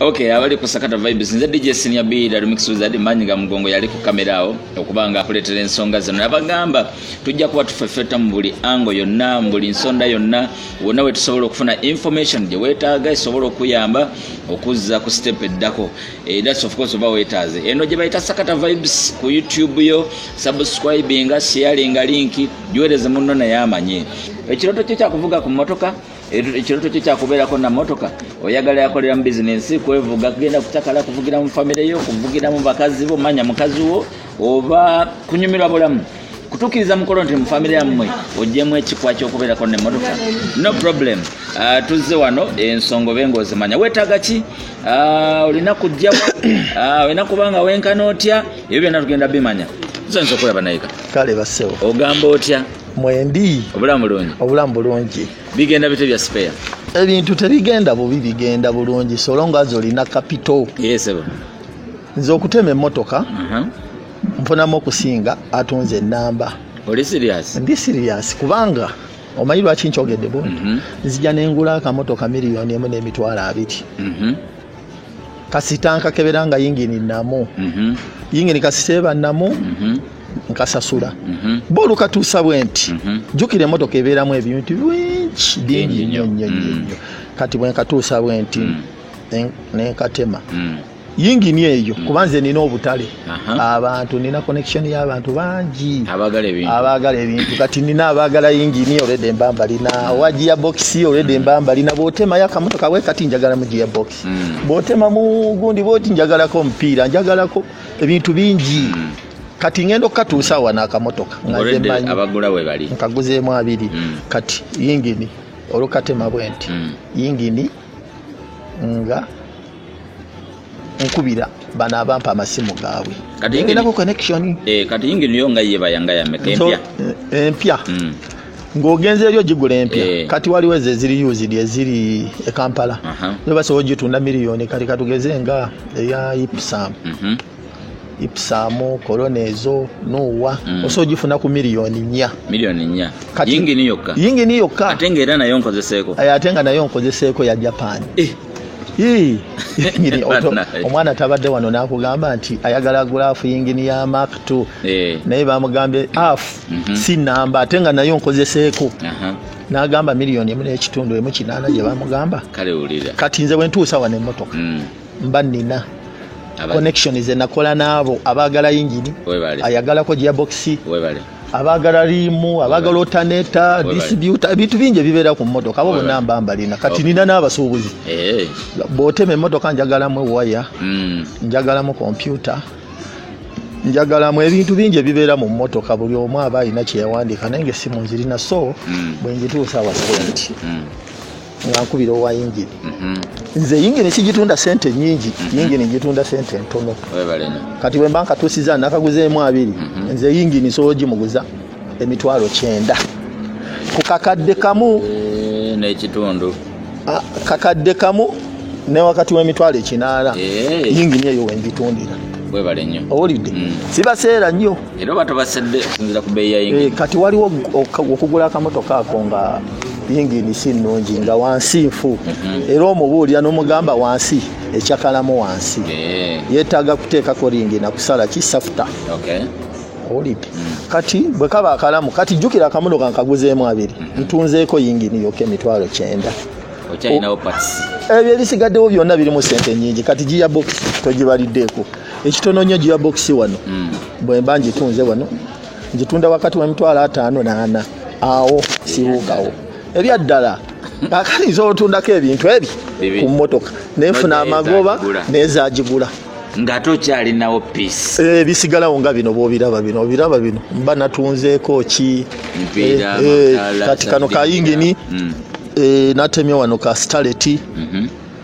Okay, abali ku Sakata Vibes nze DJ Senior B da Remix Wizard manyi ga mugongo yali ku kamera awo okuba nga akuleetera ensonga zino nabagamba tujja kuba tufefeta mu buli ango yonna mu buli nsonda yonna wonna we tusobola okufuna information gye weetaaga esobola okuyamba okuzza ku step eddako eh, that's of course oba weetaaze eno gye bayita Sakata Vibes ku YouTube yo subscribinga sharinga linki giweereze munno naye amanye ekirooto kyo kyakuvuga ku mmotoka ekiroto kyo kyakubeerako na motoka oyagala yakolera mu bizinensi kwevuga kugenda kutakala kuvugira mu famire yo kuvugira mu bakazi bo manya mukazi wo oba kunyumirwa bulamu kutukiriza mukolo nti mufamire yammwe ojjemu ekikwa kyokubeerako nemotoka no problem uh, tuzze wano ensonga obe nga ozimanya wetaaga ki uh, olina kujjawa uh, olina kubanga wenkana otya ebyo byonna tugenda bimanya tusanisa okulaba nayika kale basewo ogamba otya mwendi obulamu bulungi obulamu bulungi bigenda bite bya spare ebintu tebigenda bubi bigenda bulungi solonga azi olina kapito yesebo nze okutema emmotoka uh-huh. nfunamu okusinga atunze enamba oli serious ndi serious kubanga omanyi lwaki nkyogedde bundi mhm. nzija nengula akamotoka miliyoni emu n'emitwalo abiri mhm. kasita nkakebera nga yingini namu mhm. yingini kasita eba namu mhm. nkasasula mhm. bo olukatuusa bwe nti jjukira emotoka ebeeramu ebintu bingi bingi nnyo nnyo nnyo mm. kati bwe nkatuusa bwe nti mm. nenkatema mm. yingini eyo kubanze nina obutale abantu nina connection y'abantu bangi abaagala ebintu kati nina abaagala yingini olwedde mba mbalina owa gia bokisi olwedde mba mbalina bw'otemayo akamotoka we kati njagalamu gia bokisi hmm. bw'otemamu gundi bwoti njagalako omupiira njagalako ebintu bingi hmm. kati ngenda okukatuusa wana akamotoka nkaguzeemu abiri hmm. kati yingini olukatema bwenti yingini nga nkubira bano abampa amasimu gaabwe enako connection eh, kati yinginiyo nga ye bayanga yameka empya eh, empya mm. ng'ogenze eri ogigula empya eh. kati waliwo ezo eziri usd eziri e kampala nibasobola ogitunda miliyoni kati katugeze nga eya ipsam mhm. ipsamu korona ezo nuwa mm. oso ogifuna ku miliyoni nnya miliyoni nnya yingini yokka yingini yokka ate nga era nayo nkozeseeko eh, ate nga nayo nkozeseeko ya japan eh. omwana tabadde wano nakugamba nti ayagala gulaafu yingini ya mak t eh. naye bamugambye af mhm. si namba ate nga nayo nkozeseeko nagamba miliyoni emu nekitundu emu kinaana gyebamugamba kati nze bwentuusa wano emotoka mm. mba nina connection ze nakola naabo abaagala yingini ayagalako giabokisi abaagala liimu abaagala otaneta disibuta ebintu bingi ebibeera ku mmotoka abo bonna mba mbalina kati nina n'abasuubuzi eh. bwotema emmotoka njagalamu ewaya hmm. njagalamu kompyuta njagalamu ebintu bingi ebibeera mu mmotoka buli omu aba alina kyeyawandiika naye nga essimu nzirina so hmm. bwengituusa awasalanti hmm. nga nkubira owa yingini mhm. nze yingini sigitunda sente nyingi mhm. yingini ngitunda sente ntono kati bwemba nkatusiza nakaguzeemu abiri mhm. nze yingini nsobola ogimuguza emitwalo kyenda ku kakadde kamu eh, nekitundu ah, kakadde kamu ne wakati w'emitwalo ekinaana eh. yingini eyo wengitundira owulidde mm. sibaseera nnyo era oba tobasedde okusinzira ku beeyi yayingi eh, kati waliwo okugula akamotoka ako nga yingini si nnungi nga wansi nfu mhm. era omubuulira n'omugamba wansi ekyakalamu wansi eh. yeetaaga kuteekako ringi nakusala kisafuta owulidde kati bwe kaba akalamu kati jjukira akamotoka nkaguzeemu abiri mhm. ntunzeeko yingini yoka emitwalo kyenda ebyo ebisigaddewo byonna birimu sente nyingi kati giya bokisi togibaliddeeko ekitono nnyo gearbox wano mm. bwemba njitunze wano njitunda wakati wemitwalo ataano naana awo sibuukawo ebyaddala akali nza otundako ebintu ebyo ku motoka nenfuna amagoba nezagigula ngate okyalinawo piece eh, bisigalawo nga bino bwobiraba bino obiraba bino mba natunzeeko ki eh, eh, kati kano kayingini mm. natemye wano ka staleti mm-hmm.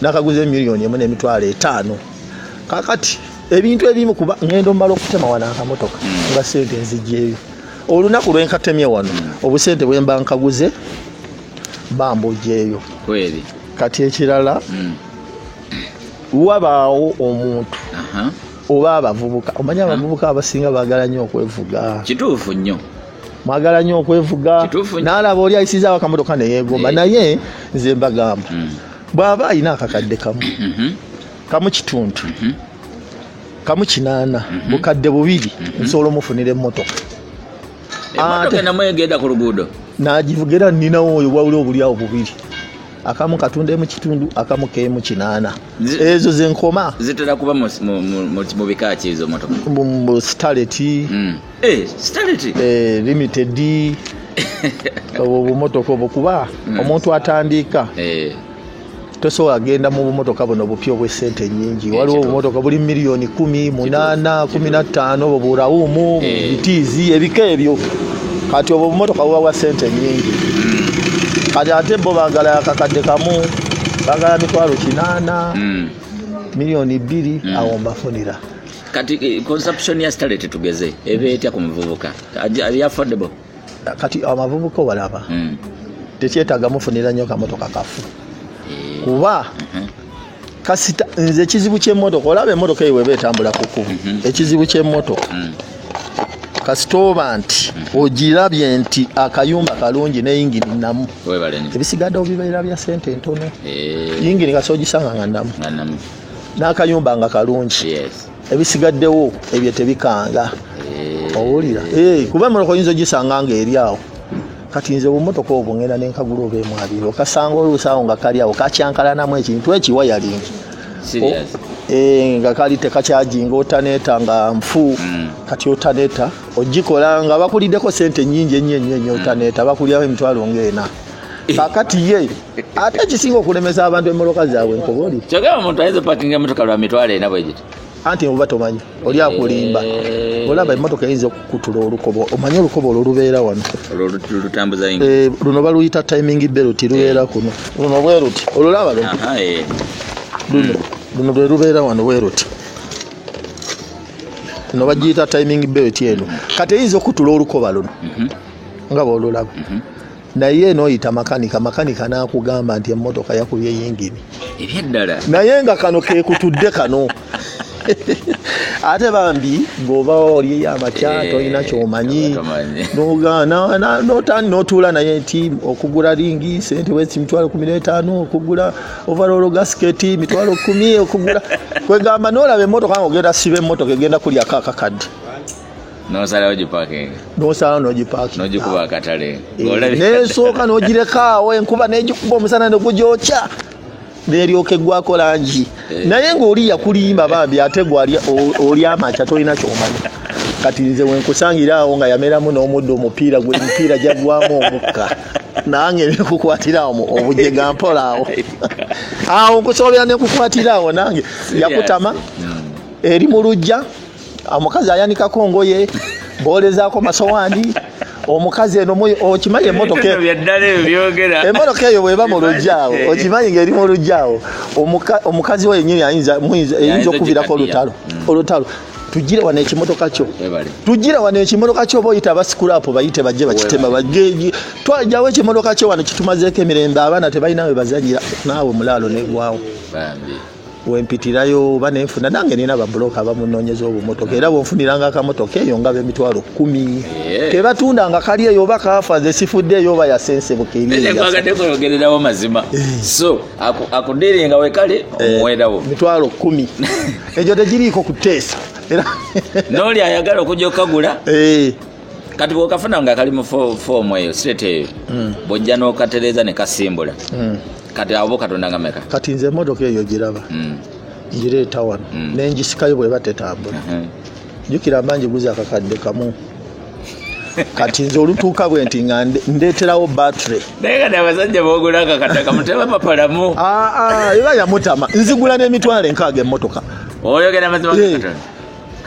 nakaguze million emu nemitwalo etaano kakati ebintu ebimu kuba ngendo mbala okutema wano akamotoka hmm. nga sente nzijeeyo olunaku lwenkatemye wano hmm. obusente bwemba nkaguze bamba ojeeyo kati ekirala hmm. wabaawo omuntu oba abavubuka omanya abavubuka abasinga bagala nnyo okwevuga kituufu nnyo mwagala nyo okwevuga nalaba oli ayisizawo akamotoka neyegomba eh. naye nze mbagamba mm. bwaba alina akakadde kamu mm-hmm. kamu kitundu mm-hmm. kamu kinaana mm-hmm. bukadde bubiri nsobola omufunira emotoka nagivugira ninawo oyo wawuli obulyawo bubiri akamu katunda emu kitundu akamu kemu kinaana ezo zenkoma zitera kuba mu bika kyezo motoka mu sitaleti mm. Eh, starity. Eh, limited. Obo bumotoka obo kuba mm. omuntu atandiika. Eh. tosobola genda mu bumotoka buno bupya obwesente nyingi eh, waliwo obumotoka buli miliyoni kumi munana kumi nattaano obwo burawumu eh. bitiizi ebika ebyo kati obwo obumotoka buba bwa sente nyingi hmm. kati ate bo bagala akakadde kamu bagala mitwalo kinaana hmm. miliyoni bbiri hmm. awo mbafunira kati eh, consumption ya stale tetugeze eba etya ku muvubuka ali affordable kati amavubuka obalaba mm. tekyetaaga mufunira nnyo kamotoka kafu eh. kuba mm -hmm. kasita nze ekizibu kyemotoka olaba emotoka eyo weba etambula ku kubu mhm. ekizibu kyemotoka mm. kasita oba nti mm. ogirabye nti akayumba kalungi ne yingini namu ebisigadde obibeera bya sente entono eh. yingini kasi ogisanga nga namu n'akayumba nga kalungi ebisigaddewo ebyo tebikanga eh. owulira eh, kuba emotoka oyinza ogisanga nga eri awo kati nze obumotoka obwo ngenda nenkagula oba emwabiri okasanga oluusawo nga kali awo kakyankalanamu ekintu ekiwa yalingi Eh, nga kali tekakyajinga otaneta nga nfu mm. kati otaneta ogikola nga bakulideko sente nyingi enyo enyo enyo mm. otaneta bakuliraho emitwalo ngaena Eh. kakati ye ate ekisinga okulemesa abantu emoloka zaabwe nkoboli kyogera omuntu ayinza opakinga emotoka lwa mitwalo ena bwegiti anti oba tomanyi oli akulimba eh. olaba emotoka eyinza okukutula olukobo omanyi olukobo olwo lubeera wano eh, luno baluyita timing belt lubeera kuno luno bweruti olulaba luno hmm. luno lwe lubeera wano bweruti no bagiyita timing belt eno kati eyinza okutula olukoba luno mhm. nga bwolulaba mhm. naye noyita makanika makanika nakugamba nti emotoka yakubye yingini ebyeddala naye nga kano kekutudde kano ate bambi ngaoba olyeyo amakya eh, tolina kyomanyi notani notuula naye nti okugula lingi sente wesi mitwalo kumi netaano okugula ovarolo gasiketi mitwalo kumi okugula kwegamba nolaba emotoka nga ogenda siba emotoka egenda kulyako akakadde nosalawo gipakinga nosalawo nogipakinga nogikuba akatale eh, nensooka nogirekaawo enkuba negikuba omusana negugyokya neryoka eggwako langi eh. naye ngaoli yakulimba bambi ate gwali oli amaca tolina kyomanya kati nze wenkusangira awo nga yameramu n'omuddo omupiira gwe emipiira gyagwamu omukka nange nekukwatira awo obujega mpola awo awo nkusobolera nekukwatira awo nange yakutama hmm. eri mu lujja omukazi ayanikako ngoye bolezaako masowaani omukazi eno okimanyi emotoka eyo bweba mu lujjaawo okimanyi ngaeri mu lujjaawo omukazi wo yenyini ayinza okubirako olutalo mm. olutalo tujire wano ekimotoka kyo tujire wano ekimotoka kyo oba oyita abasikulapo bayite bajje bakitema bageji twajawo ekimotoka kyo wano kitumazeeko emirembe abaana tebalina we bazanyira naawe mulaalo negwawo wempitirayo oba nenfuna nange nina babuloka abamunonyeza obumotoka era bwenfuniranga akamotoka eyo nga bemitwalo kumi tebatunda nga kali eyo oba kafa nze sifudde eyo oba yasensebuka eriyogerawo mazima eh. so akudiringa wekale eh, omuwerawo mitwalo kumi egyo tegiriiko kuteesa noli ayagala okujja okukagula eh. kati bwokafuna nga kali mu foomu eyo sirete eyo hmm. bwojja nokatereza nekasimbula hmm. kati abo katonda nga meka kati nze emotoka eyo giraba mm. ngireeta wano mm. nengisikayo bweba tetambula uh-huh. jukira mba ngiguza akakadde kamu kati nze olutuuka bwe nti nga ndeeterawo battery naye kati abasajja bogula akakadde kamu tebapapalamu ah, ah, eba yamutama nzigula n'emitwalo enkaaga emmotoka oyogera mazima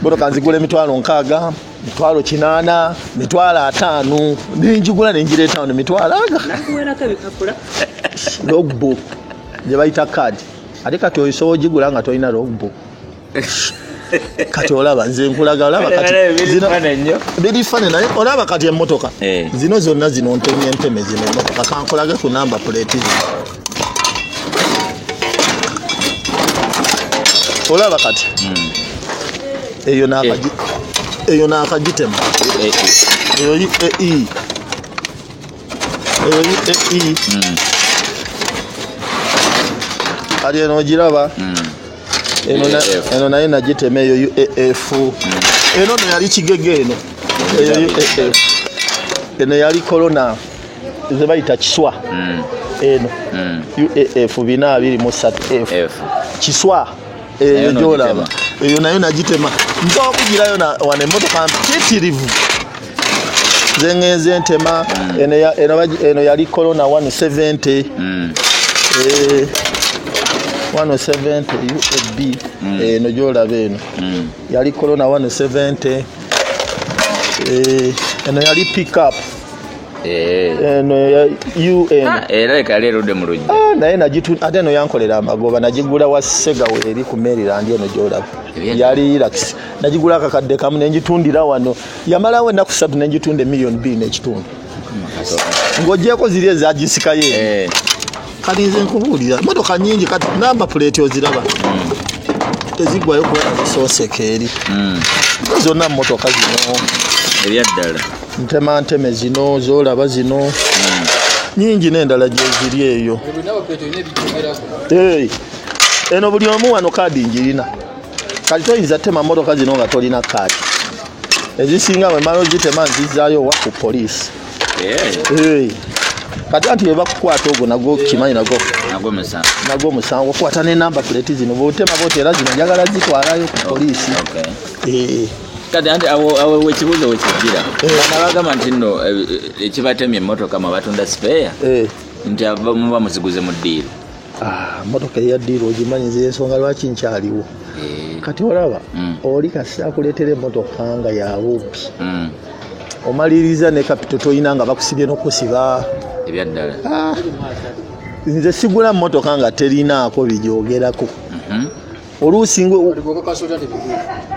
motoka nzigula emitwalo nkaaga mitwalo kinana mitwalo ataano nenjigula nenjireeta wano mitwalo aga logbook gye bayita card ate kati oyisobola ogigula nga tolina logbook kati olaba nze nkulaga olaba kati biri fane naye olaba kati emotoka eh. zino zonna zino ntemye nteme zino emotoka kankulage ku namba plate zino olaba kati hmm. eyo nakagi eh. eyo nakagitema eh, eh, eyo yi e i eyo yi e i hmm. ali eno ogiraba hmm. eno naye nagitema eyo u e f eno no yali kigege eno eyo u e f eno yali corona ze bayita kiswa mm. eno mm. uaf bina abiri mu satu f kiswa eyo gyolaba eyo nayo nagitema nsobola okugirayo wano emotoka mpitirivu zengenze ntema mm. eno yali corona 170 170 uab eno gyolaba eno yali corona 170 eno yali pickup Eh. eno ya un ah, era leka yali erudde mu lujja ah, naye nagitu ate eno yankolera amagoba nagigula wa segawo eri ku maryland eno gyolaba yali irax nagigula akakadde kamu nengitundira wano yamalawo ennaku satu nengitunda emiliyoni bbiri nekitundu ng'ogyeko ziri ezagisikayo eh. kati nze nkubuulira motoka nyingi kati namba puleeti oziraba tezigwayo kuba zisooseka eri hmm. zonna mumotoka zino ebyaddala ntema nteme zino zolaba zino hmm. nyingi n'endala gyeziri eyo eno buli omu wano kaadi njirina kati toyinza tema motoka zino nga tolina kaadi ezisinga wemala ozitema nzizaayo wa ku poliisi Eh. kati anti webakukwata ogwo nago kimanyi nago nago omusango okwata nenamba puleti zino botema boti era zino njagala zitwalayo ku oh, poliisi eh. kati anti awo wekibuuzo wekijira eh. bana bagamba nti nno ekibatemye emotoka mwe batunda sipeeya nti muba muziguze mu ddiiro Ah, motoka eya diiro ogimanyi nze ensonga lwaki nkyaliwo eh. kati olaba mm. oli kasita akuleetera emotoka nga yabubbi mm. omaliriza ne kapito tolina nga bakusibye nokusiba ebyaddala ah. nze sigula motoka nga terinaako bijogerako mhm. oluusi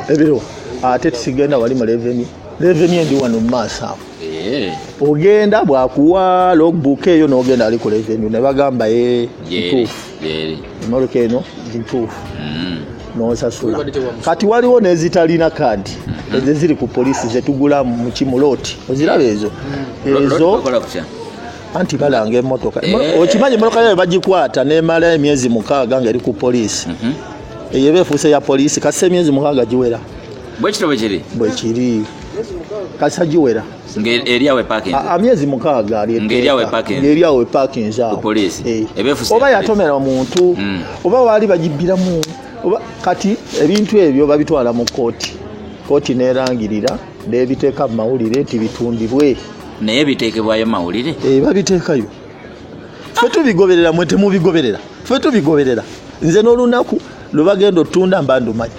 ebiro ate tusigenda wali mu leveni leveni endi wano mu maaso awo eh. ogenda bwakuwa logbook eyo nogenda ali ku leveni nebagamba e eh, ntuufu emoloka eno ntuufu mm. nosasula kati waliwo nezitalina kadi mm-hmm. ezo ziri ku polisi zetugula mukimulooti oziraba ezo mm. ezo anti balanga emotoka eh. okimanyi emotoka yayo bagikwata nemala emyezi mukaaga nga eri ku poliisi mhm. eyo eba efuuse ya poliisi kasisa emyezi mukaaga giwera bwekityo bwekiri bwekiri kasisa giwera amyezi mukaaga alieryawo epakinzi awo eh. oba yatomera omuntu mm. oba waali bagibbiramu kati ebintu ebyo babitwala mu kooti kooti nerangirira nebiteeka mu mawulire nti bitundibwe naye biteekebwayo mawulire eh, babiteekayo fe tubigoberera mwe temubigoberera fe tubigoberera nze n'olunaku lwe bagenda otunda mba ndumanyi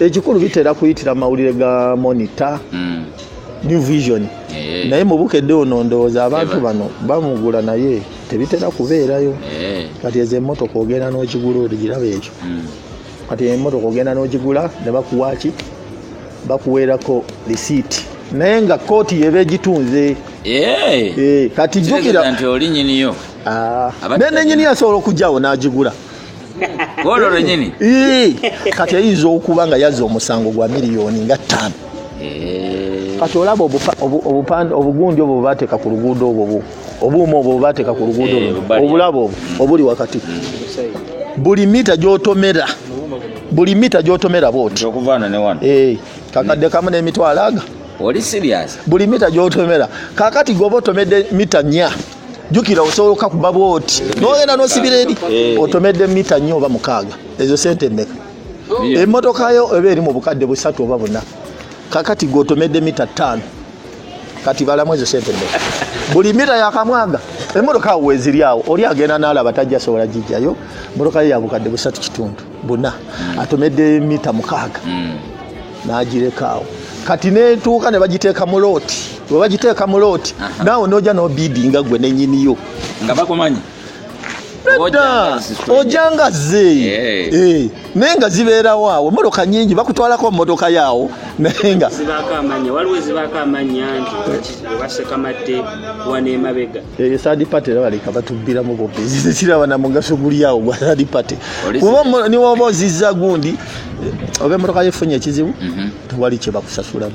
ekikulu bitera kuyitira mawulire ga monita hmm. new vision eh. naye mubukedde ono ndowooza abantu bano bamugula naye tebitera kubeerayo eh. kati ezo emotoka ogenda n'okigula oligiraba ekyo hmm. kati emotoka ogenda nogigula nebakuwaki bakuweerako lisiiti naye nga kooti yeba egitunze eh. Eh, kati jukiraolinyiniyo ah. naye nenyini yasobola okugyawo nagigula olwo lwenyini eh. kati eyinza okuba nga yazza omusango gwa miliyoni nga ttaano kati olaba obugunja obwo bateeka ku luguudo obwo obuuma obwo bwebateeka ku luguudo eh, luno obulabo obwo mm. obuli wakati mm. buli mita gyotomera buli mita gyotomera bwoti eh, kakadde kamu n'emitwalo aga buli mita gyotomera kakati goba otomedde mita nya jukira osobola okakuba bwoti nogenda nosibira eri eh. otomedde mita nya oba mukaaga ezo sente emeka emotoka yo eba eri mu bukadde busatu oba buna kakati gwotomedde mita ttaano kati balamu ezo sente mmeka buli mita yakamwaga emotoka awo weziri awo oli agenda nalaba tajja asobola gijjayo motoka ye yabukadde busatu kitundu buna mm. atomedde mita mukaaga mm. nagireka awo kati netuuka ne bagiteeka mu looti webagiteeka mu looti naawe noja nobidi nga gwe nenyiniyo nga bakumanyi nedda ojanga ze eh. eh. naye nga zibeerawo awo emotoka nyingi bakutwalako mumotoka yaawo naye nga waliwo ezibaako amanya nti basekamadde wana emabega eh, third party era baleka batubbiramu bobezi kiraba na mugaso guli awo gwa third party kuba niwoba ozizza gundi oba emotoka yefunye ekizibu mhm. tewali kyebakusasulamu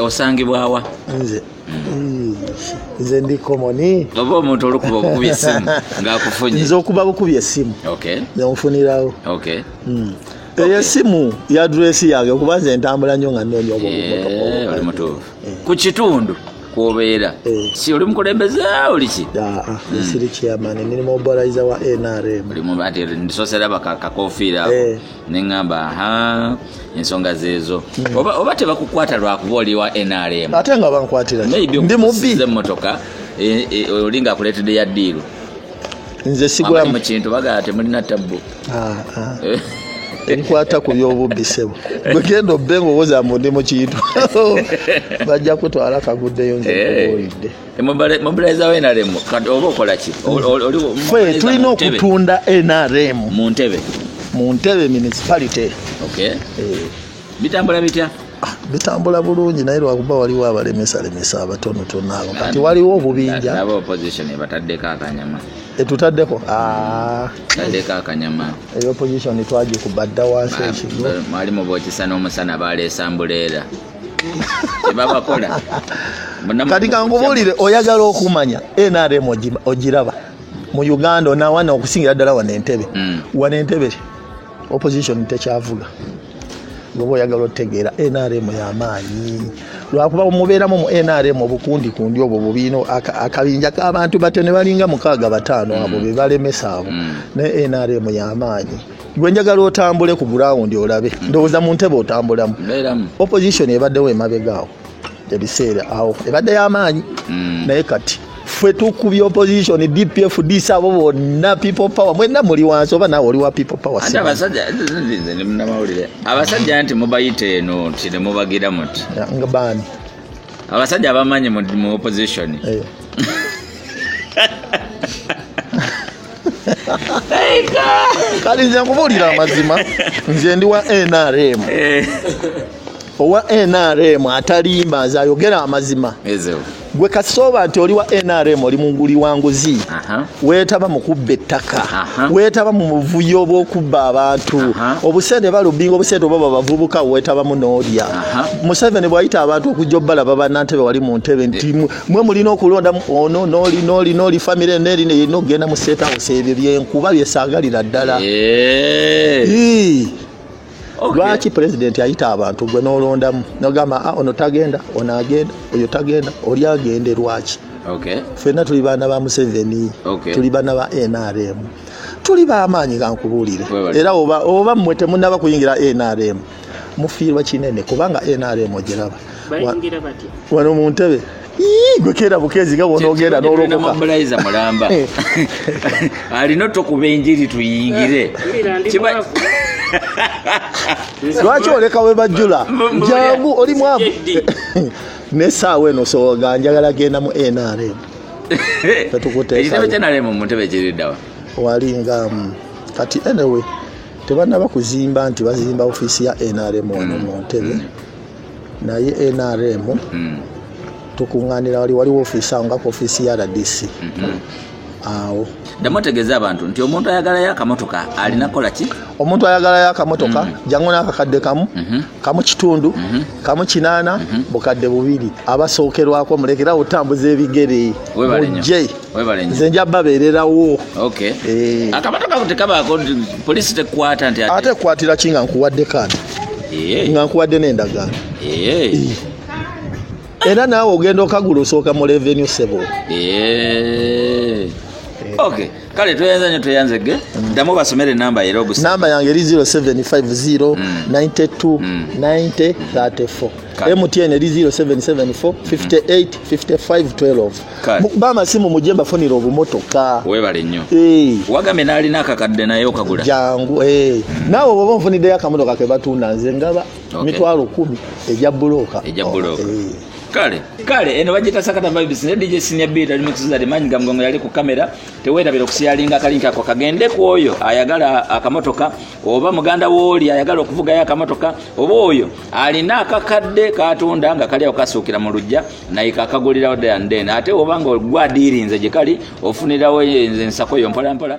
osangibwawa nze mm. nze ndi komoni oba omuntu olukuba okukuba esimu ngaakufunye nze okuba bukuba esimu nonfunirawo mm. eyo esimu ya duresi yange kuba nze ntambula nnyo nga nnoonya obuomutuufu eh, eh. ku kitundu kwobeera eh. si oli mukulembeze oliki ah, ah, hmm. siri chairman ndi mumobilizer wa nrm ndi soseraba kakofiira neŋamba ha ensonga zeezo hmm. oba, oba tebakukwata lwakuba oliwa nrm ate nga bankwatira ndi mubbi emmotoka e, e, olinga akuleetedde ya diiru nze sigulamu mu kintu bagala temulina tabbu ah, ah. Eh. enkwata ku byobubbi sebo gwegenda obbe ngaowoza mbu ndi mu kintu bajja kutwala kaguddeyo nze eh. owulidde mobilizawo nrm kati oba okolaki fe tulina okutunda nrm mu ntebe mu ntebe municipality eh. bitambula bitya ah, bitambula bulungi naye lwakuba waliwo abalemesalemesa abatonotono abo kati waliwo obubinja etutaddeko ah. taddeko akanyama eyo opposition twagikuba dda wansi ekigmwalimu bokisa n'omusana baleesa mbuleera kyebabakola kati kankubuulire oyagala okumanya nrm ogiraba mu uganda onawana okusingira ddala wana entebe mm. wana entebe opposition tekyavuga goba oyagala otegeera nrm yamaanyi lwakuba mubeeramu mu nrm obukundi kundi obwo bubiina akabinja kabantu bate ne balinga mukaaga bataano abo mm. bebalemesa abo mm. naye nrm yamaanyi gwe njagala otambule ku gurawundi olabe ndowooza mu ntebe otambulamu opposition ebaddewo emabegaawo ebiseera awo ebadde y'amaanyi mm. naye kati ffe tukubya opposition dpf dis abo bonna people power mwena muli wansi oba nawe oli wa people power abasajja nti mubayita eno nti nemubagira muti nga baani abasajja abamanyi mu opposition eh. kati nze nkubuulira amazima nze ndi wa nrm eh. owa nrm atalimba nze ayogera amazima gwe kasooba nti oli wa nrm oli munguli wa nguzi weetaba mu kubba ettaka weetaba mu buvuyo obw'okubba abantu obusente balubinga obusente oba babavubuka weetabamu n'olya museveni bw'ayita abantu okujja obbalaba bannantebe wali mu ntebe nti mwe mulina okulonda ono noli noli noli famire neri neyina okugenda mu state house ebyo byenkuba byesagalira ddala eh. lwaki president ayita abantu gwe nolondamu nogamba ah, ono tagenda ono agenda oyo tagenda oli agende lwaki fenna tuli baana ba museveni tuli baana ba nrm tuli bamaanyi gankubuulire era oba mmwe temunaba kuyingira nrm mufiirwa kinene kubanga nrm ogiraba wano mu ntebe gwe keera bukeezi nga bwonoogenda nolokokamulayza mulamba alina otokuba enjiri tuyingire lwaki oleka we bajjula jangu oli mwavu nesaawa eno soga njagala genda mu nrm tetukuteekitebe kyenalemu mu ntebe kiriddawa wali nga mm, kati anyway tebanaba kuzimba nti bazimba ofiisi ya nrm wano mu ntebe naye nrm tukuŋŋaanira wali waliwo ofiisi awo nga ku ofiisi ya rdc awo ddamu otegeeza abantu nti omuntu ayagalayo akamotoka alina kukola ki omuntu ayagalayo akamotoka mm. jangu n'akakadde kamu mm-hmm. kamu kitundu mm-hmm. kamu kinaana mm-hmm. bukadde bubiri abasookerwako mulekerawo otambuza ebigere mujje nze nja babeererawo eh. akabato kako tekabaako polisi tekwata nti ate ekwatira ki nga nkuwadde kaati eh. nga nkuwadde n'endagaano eh. era naawe ogenda okagula osooka mu revenue sebo ok kale tweyanza nyo tweyanze ge mm. ddamu basomere enamba era ogus namba yange eri 0750 92 90 34 mtn eri 0774 58 55 12 bamasimu mujje mbafunira obumotoka webale nnyo eh. wagambye nalina akakadde naye okagula jangu eh. hmm. naawe oba onfuniddeyo akamotoka kebatunda nze ngaba mitwalo kumi eja bulooka eja bulooka oh, eh. kale kale eno bagita sakata vibes ne dj senior beat ali mukiziza de manyi gamgongo yali ku kamera tewera bero kusiyalinga kali nkako kagende kwoyo ayagala akamotoka oba muganda woli ayagala okuvuga ya akamotoka oba oyo alina akakadde katunda nga kali okasukira mu lujja naye kakagulirawo dea nden ate obanga ogwadiirinze gyekali ofunirawo enze ensako yo mpolampola